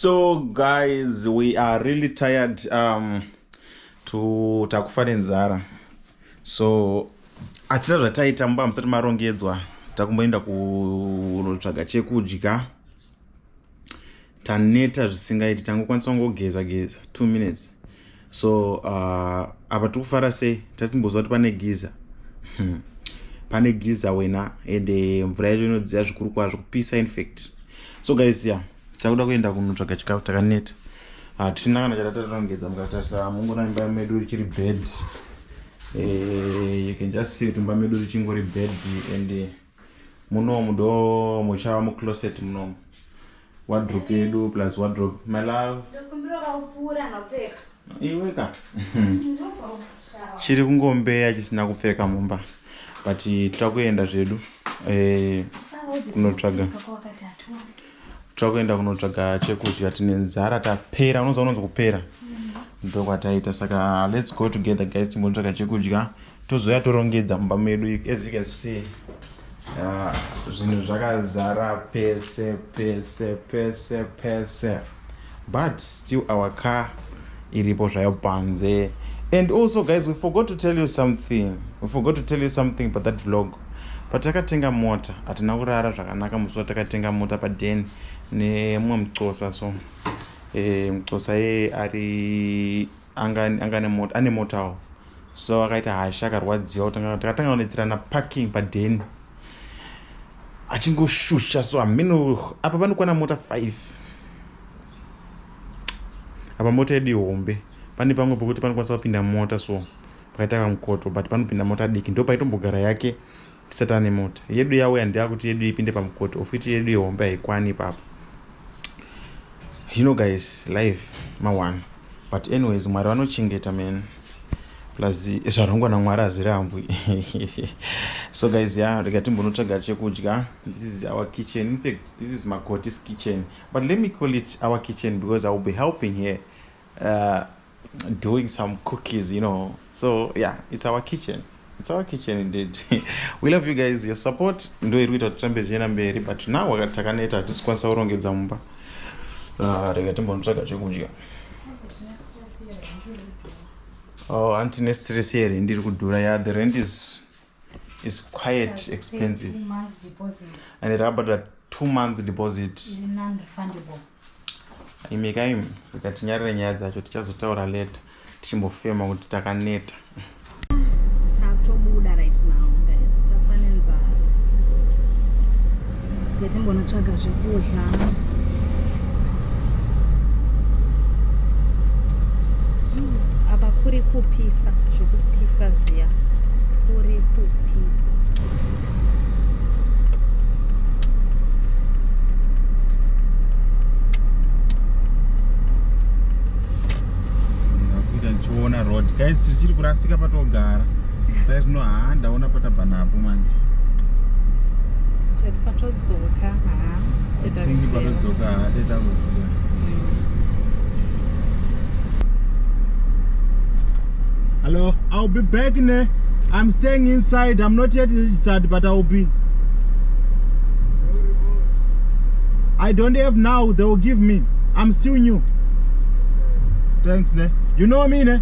so guys we are really tired um, to takufa nenzara so hatina zvataita mumba musati marongedzwa takumboenda kunotsvaga chekudya taneta zvisingaiti tangokwanisa kungogeza geza two minutes so uh, apa tiri kufara sei tatimboziva kuti pane giza hmm. pane giza wena ende mvura yacho inodziya zvikuru kwazvo kupisa infact so guys ya takuda kuenda kunotsvaga chikafu takaneta hatina ah, kana chatatarongedza mukatarisa mungona imba medu richiri bed eh, you can just see kuti imba medu richingori bed and munomu do muchava mucloset munomu wadrop yedu plus wadrop my love iweka chiri kungombeya chisina kupfeka mumba but titakuenda zvedu eh, kunotsvaga takuenda kunotsvaga chekudya tine nzara tapera unoziva unonzi kupera ndokwataita saka let's go together guys timbotsvaga chekudya tozouya torongedza mumba medu as you can see ah, zvinhu zvakazara pese pese pese pese but still our car iripo zvayo panze and also guys we forgot to tell you something we forgot to tell you something but that vlog patakatenga mota hatina kurara zvakanaka musi watakatenga mota paden nemumwe mucosa so e, eh, mucosa ye ari anga anga ane mota ane motawo so akaita hasha akarwadziwa takatanga kunetsirana parking padheni achingoshusha so hameno apa panokwana mota five apa mota yedu ihombe pane pamwe pokuti panokwanisa kupinda mota so pakaita kamukoto but panopinda mota diki ndo paitombogara yake tisatane mota yedu yauya ndeakuti yedu ipinde pamukoto ofiti yedu yehombe haikwani ipapo you know guys life mawana but anyways mwari vanochengeta man plus zvarongwa namwari hazvirambwi so guys ya yeah, rega timbonotsvaga chekudya this is our kitchen infact this is makotis kitchen but let me call it our kitchen because i will be helping here uh, doing some cookies you know so yeah it's our kitchen it's our kitchen indeed we love you guys your support ndo iri kuita tirambe zvichienda mberi but now wakati takaneta hatisi kwanisa kurongedza mumba uh, rega timbonotsvaga chekudya oh anti nestress here ndiri kudhura ya yeah, the rent is is quite expensive and rakabhadhara two months deposit imekai ikatinyarira nyaya dzacho tichazotaura leta tichimbofema kuti takaneta Yatimbonotsvaga zvekudya. Apa kuri kupisa zvekupisa zviya kuri kupisa. Ndakuita ndichiona road guys tichiri kurasika patogara. sai zvino haa ndaona patabva napo manje chati patodzoka haa tingi patodzoka haa teta kuziva Hello, I'll be back ne. I'm staying inside. I'm not yet registered, but I'll be. I don't have now. They will give me. I'm still new. Thanks ne. You know me ne.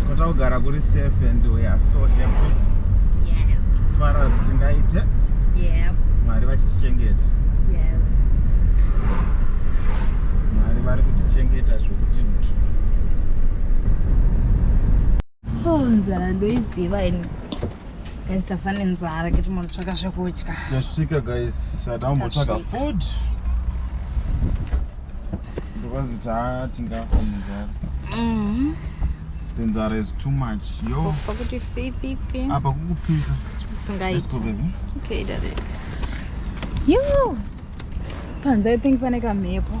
tikota kugara kuri safe and we are so happy yes. kufara zvisingaite yep. mwari vachitichengeta yes. mwari vari kutichengeta zvokuti mtu oh, nzara ndoiziva ini guys tafa nenzara kiti munotsvaka zvekudya tasvika guys hatambotsvaga food because tatingafa nenzara mm-hmm. the nzara is too much yo pakuti fififi apa kukupisa isingaiti okay dade yo panze i think pane kamhepo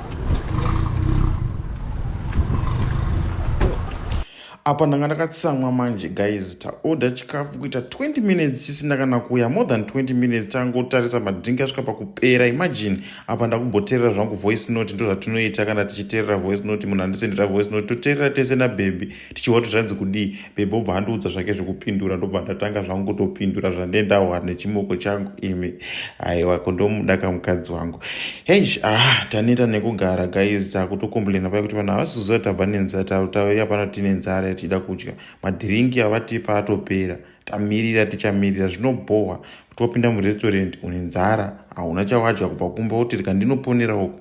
apa ndanga ndakatsamwa manje guys taoda chikafu kuita 20 minutes chisina kana kuuya more than 20 minutes tangotarisa madhink asvika pakupera imagine apa ndakumboteerera zvangu voice note ndozvatinoita kana tichiteerera voice note munhu andisendera voice note toteerera tese nabhebhi tichiona kuti zvanzi kudii bebe obva andiudza zvake zvekupindura ndobva ndatanga zvangu kutopindura zvandee ndawana nechimoko changu imi aiwa kondomuda kamukadzi wangu heish ah taneta nekugara guys takutokomblena paye kuti vanhu havasizoziva tabva nenzara tauya pano tine nzara yatida kudya madhiringi avatipa atopera tamirira tichamirira zvinobhohwa kuti wapinda murestaurant une nzara hauna chawadya kubva kumba wotirika ndinoponera uku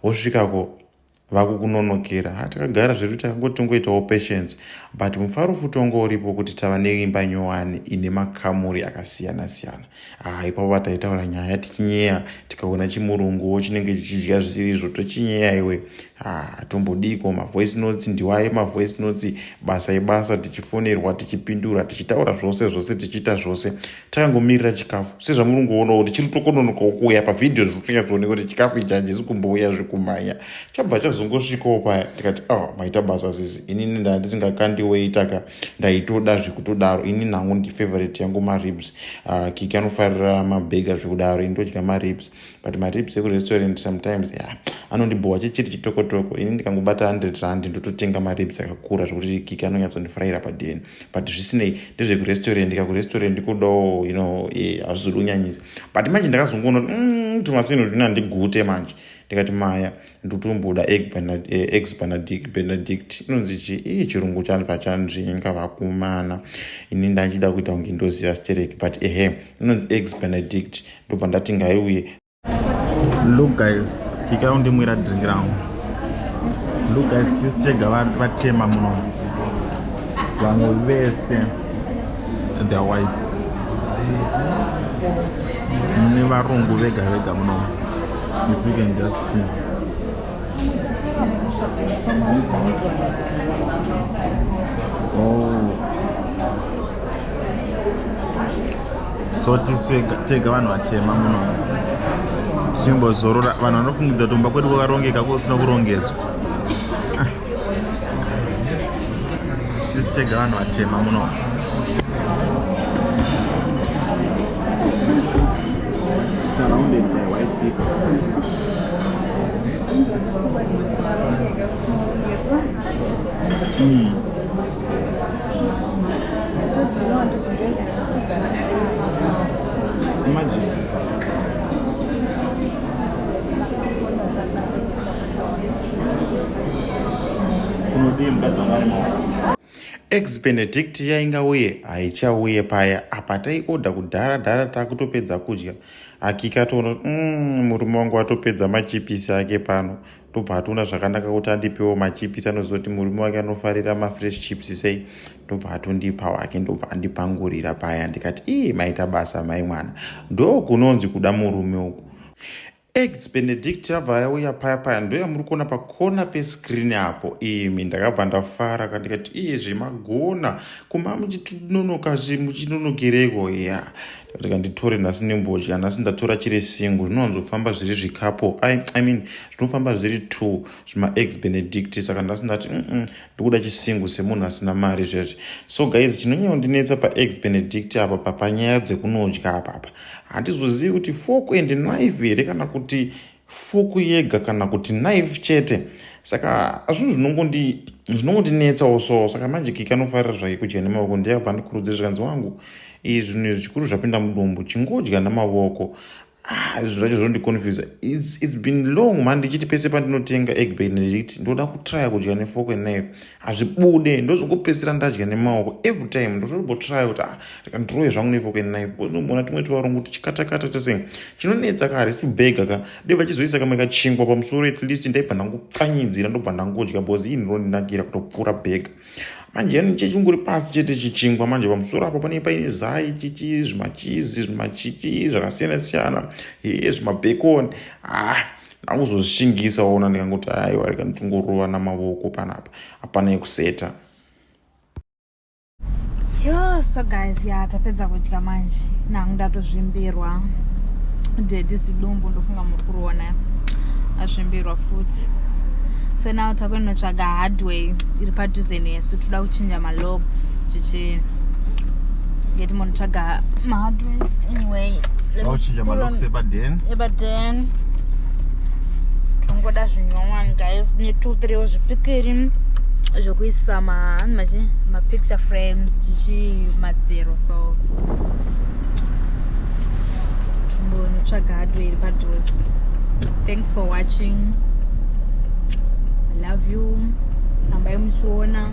wosvikako vakukunonokera ha takagara zvedu takangoti tongoitawo patience but mufaro futi wanga uripo kuti tava neimba nyowani ine makamuri akasiyana siyana ha ipapo vataitaura nyaya tichinyeya tikaona chimurunguwo chinenge chichidya zvisiri izvo tochinyeya iwe ha tombodiko mavoice notes ndiwaye mavoice notes basa ibasa tichifonerwa tichipindura tichitaura zvose zvose tichiita zvose tangomirira chikafu sezvamuri kungoonawo kuti chiri tokononokawo kuuya pavhidhiyo zviri kutonyatsoneka kuti chikafu ichi hachisi kumbouya zvekumhanya chabva chazongosvikawo paya tikati a ah, maita basa zizi inini ndaa ndisingakandiwoitaka ndaitoda zvekutodaro ini nangu ndifavorite yangu maribs ah, kiki anofarira mabhega zvekudaro ini ndodya maribs but matips ekurestaurant sometimes ya yeah, anondibhowa chechiri chitokotoko ini ndikangobata 100 rand ndototenga maribs akakura zvekuti kiki anonyatsondifuraira padeni but zvisinei ndezvekurestaurant ka kurestaurant kudawo you know eh, hazvizodi kunyanyisa but manje ndakazongoona kuti mm, tumasinhu zvino handigute manje ndikati maya ndotomboda eh, ex benedict benedict inonzi chi ii chirungu chandva chanzvenga vakumana ini ndachida kuita kunge ndoziva sterek but ehe inonzi ex benedict ndobva ndati ngaiuye look guys kika undimwira drink rangu look guys this tega vatema muno vamwe vese the white nevarungu vega vega muno if you can just see oh so tisu tega vanhu vatema muno tichimbozorora vanhu vanofungidza kuti kumba kwedu kwakarongeka kusina kurongedzwa ah. tisu tega vanhu vatema muno surrounded by white people mm. ex benedict yainga uye haichauye paya apa taioda kudhara dhara takutopedza kudya hakika toona mm, murume wangu atopedza machipisi ake pano ndobva atoona zvakanaka kuti andipewo machipisi anoziva kuti murume wake anofarira mafresh chips sei ndobva atondipa wake ndobva andipangurira paya ndikati ii maita basa mai mwana ndo kunonzi kuda murume uku eggs benedict yabva yauya paya paya ndoyamuri kuona pakona pescreen apo imi ndakabva ndafara kandikati iye zvemagona kumba muchitinonoka zve muchinonokereiko ya yeah. rega nditore nhasi nembodya nhasi ndatora chiri single zvinowanzofamba zviri zvikapo I, i mean zvinofamba zviri two zvimaex benedict saka nhasi ndati mm ndikuda chisingle semunhu asina mari zvezvi so guys chinonyandinetsa paex benedict apa papanyaya dzekunodya apapa handizozivi kuti fork and knife here kana kuti fuku yega kana kuti knife chete saka zvinhu zvinongondinetsawo so saka manje kiki anofarira zvake kudya nemaoko ndiyabva ndikurudzira zvikanzi wangu izvi zvinhu izvi zvikuru zvapinda mudumbu chingodya namaoko ah, zvinhu zvacho zvinondiconfusa its been long mani ndichiti pese pandinotenga egbay ndichiti ndoda kutrya kudya nefoko knife hazvibude ndozongopedzisira ndadya nemaoko every time ndotombotry kuti ah rika ndiroye zvangu nefoke knife because ndomboona tumwe tuvarungu kuti chikatakata tese chinonetsa ka harisi bhega ka dai vachizoisa kamwe kachingwa pamusoro at least ndaibva ndangopfanyidzira ndobva ndangodya because ii ndinondinakira kutopfuura bhega manje yani chechinguri pasi chete chichingwa manje pamusoro apo pane paine zai chichi zvimachizi zvimachichi zvakasiyana siyana ee zvimabhekoni ah ndakuzozvishingisa waona ndikangoti aiwa rega nditongorova namavoko panapa hapana yekuseta yo so guys ya tapedza kudya manje nangu ndatozvimbirwa dedi zidumbu ndofunga muri kuriona azvimbirwa futi so now takunotsvaga hardway iri padhuze nesu toda kuchinja malocks chichi ngeti munotsvaga mahardways anyway tochinja malocks ebaden ebaden tongoda zvinyowani guys netwo three wezvipikiri zvekuisa mahani machi mapicture frames chichi madziro so tombonotsvaga hardware iri padose thanks for watching i love you rambai muchiona